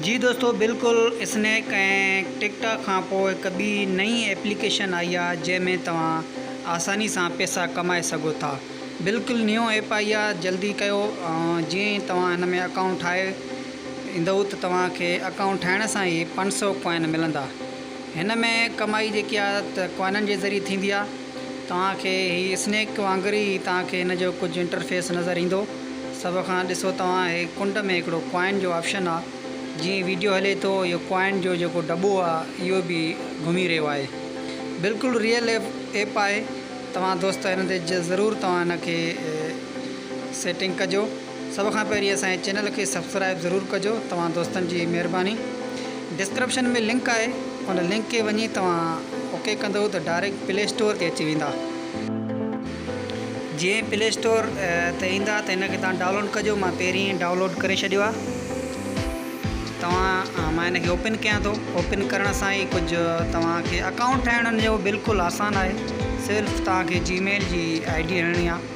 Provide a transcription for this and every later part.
جي دوستو بلڪل اسنيڪ ۽ ٽڪ ٽاڪ کانپوء هڪ ٻي نئين ايپليڪيشن آئي آ جنهن ۾ توهان آساني سان پيسا ڪمائي سگهو ٿا بلڪل نيون ايپ آئي آ جلدي ڪيو جيئن ئي توهان هن ۾ اڪائونٽ ٺاهي ايندئو ته توهان کي اڪائونٽ ٺاهڻ سان ئي پنج سئو ڪوائن ملندا هن ۾ ڪمائي جيڪي آ ته ڪوائنن جي ذريعي ٿيندي آ. توهان کي هي اسنيڪ وانگر ئي توهان کي هن جو ڪجهه انٽرفيس نظر ايندو سڀ کان ڏسو توهان هي ڪنڊ ۾ هڪڙو ڪوائن جو آپشن آ جيئن ويڊيو هلي ٿو اهو ڪوائن جو جيڪو ڊٻو آ اهو به گهمي رهيو آهي بلڪل ريئل ايپ آهي توهان دوست هن تي ضرور توهان هن کي سيٽنگ ڪجو. سڀ کان پهرين اسان جي چينل کي سبسڪرائب ضرور ڪجو توهان دوستن جي مهرباني ڊسڪرپشن ۾ لنڪ آهي ان لنڪ کي وڃي توهان اوڪي ڪندئو ته ڊائريڪٽ پلي اسٽور تي اچي ويندا جي پلي اسٽور تي ايندا ته ان کي توهان ڊائونلوڊ ڪجو مان پهرين ڊائونلوڊ ڪري ڇڏيو آهي توهان مان ان کي اوپن ڪيان ٿو اوپن ڪرڻ سان ئي ڪجهه توهان کي اڪائونٽ ٺاهڻ جو بلڪل آسان آهي صرف توهان کي جي ميل جي آئي ڊي هڻڻي آهي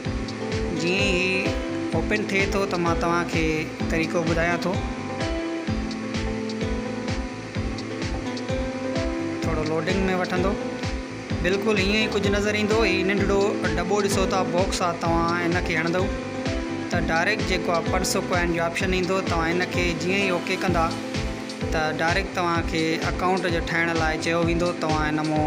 جيئن ئي هي اوپن ٿئي ٿو ته مان توهان کي طريقو ٻڌايان ٿو ٿورو لوڊنگ ۾ وٺندو بلڪل هيئن ئي ڪجهه نظر ايندو هي ننڍڙو ڊٻو ڏسو ٿا باڪس آ توهان ان کي هڻندو ته ڊائريڪٽ جيڪو آ پرسو ڪوائن جو آپشن ايندو توهان ان کي جيئن ئي اوڪي ڪندا ته ڊائريڪٽ توهان کي اڪائونٽ جو ٺاهڻ لاء چيو ويندو توهان ان مون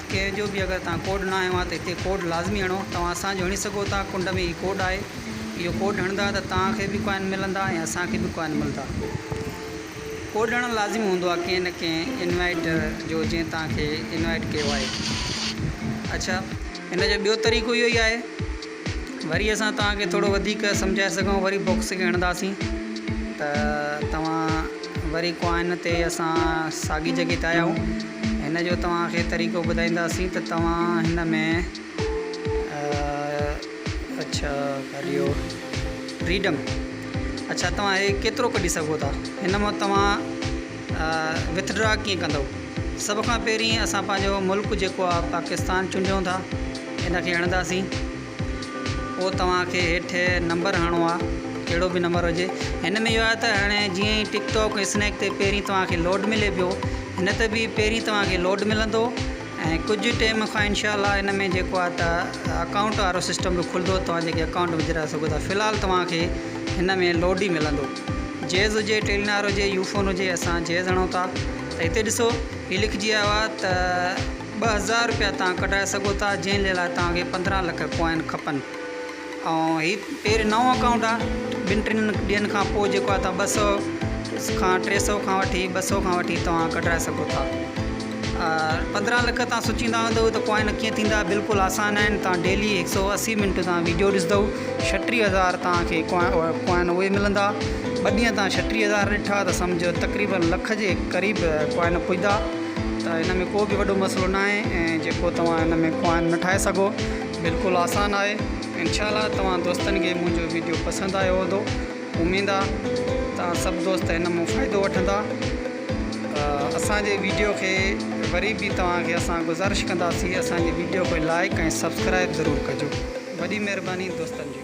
ڪير جو به اگر توهان ڪوڊ نه هنيو آهي ته هتي ڪوڊ لازمي هڻو توهان اسان جو هڻي سگهو ٿا ڪنڊ ۾ هي ڪوڊ آهي اهو ڪوڊ هڻندا ته توهان کي به ڪوائن ملندا ۽ اسان کي به ڪوائن ملدا ڪوڊ هڻڻ لازمي هوندو آهي ڪنهن نه ڪنهن انوائيٽر جو جنهن توهان کي انوائيٽ ڪيو آهي اڇا هن جو ٻيو طريقو اهو ئي آهي وري اسان توهان کي ٿورو وڌيڪ سمجهائي سگهون وري بوڪس کي هڻنداسين ته توهان وري ڪوائن تي اسان ساڳي جڳهه تي آيا آهيون هن جو توهان کي طريقو ٻڌائينداسين ته توهان هن ۾ اڇا ڪريو فريڊم اڇا توهان هي ڪيترو ڪڍي سگهو ٿا هن مان توهان وٿ ڊرا ڪيئن ڪندؤ سڀ کان پهرين اسان پنهنجو ملڪ جيڪو آ پاڪستان چونڊيون ٿا ان کي هڻنداسين پوء توهانکي هيٺ نمبر هڻو آ ڪهڙو به نمبر هجي هن ۾ اهو آ ته هاڻي جيئن ئي ٽڪ ٽاڪ ۽ اسنيڪ تي پهرين توهانکي لوڊ ملي پيو هن ته به پهرين توهانکي لوڊ ملندو ۽ ڪجهه ٽيم کان انشاء الله ان ۾ جيڪو آ ته اڪائونٽ وارو سسٽم به کلندو توهان جيڪي اڪائونٽ وجهرائي سگهو ٿا فلحال توهانکي هن ۾ لوڊ ئي ملندو جيز هجي، ٽيلنار هجي، يوفون هجي اسان جيز هڻون ٿا ته هتي ڏسو هي لکجي آيو آهي ته ٻه هزار رپيا توهان ڪڍرائي سگهو ٿا جنهن جي لاء توهان کي پندرهن لک ڪوائن کپن ۽ هي پهرين نئون اڪائونٽ آهي ٻن ٽن ڏينهن کان پوء جيڪو آهي توهان ٻه سو کان ٽي سو کان وٺي ٻه سو کان وٺي توهان ڪڍرائي سگهو ٿا پندرهن لک تان سوچيندا هوندؤ ته ڪوائن ڪيئن ٿيندا بلڪل آسان آهن تان ڊيلي هڪ سئو اسي منٽ تان ويڊيو ڏسدؤ ڇٽيهه هزار تان کي ڪوائن اهي ملندا ٻه ڏينهن تان ڇٽيهه هزار ڏٺا ته سمجهه تقريبا لک جي قريب ڪوائن پڄدا ته هن ۾ ڪو به وڏو مسئلو نه آهي ۽ جيڪو توهان هن ۾ ڪوائن نه ٺاهي سگهو بلڪل آسان آهي انشاء الله توهان دوستن کي منهنجو ويڊيو پسند آيو هوندو اميد آهي ته سڀ دوست هن مون فائدو وٺندا اسان جي ويڊيو کي وري به توهان کي اسان گذارش ڪنداسين اسان جي ويڊيو کي لائيڪ ۽ سبسڪرائيب ضرور ڪجو وڏي مهرباني دوستن جي.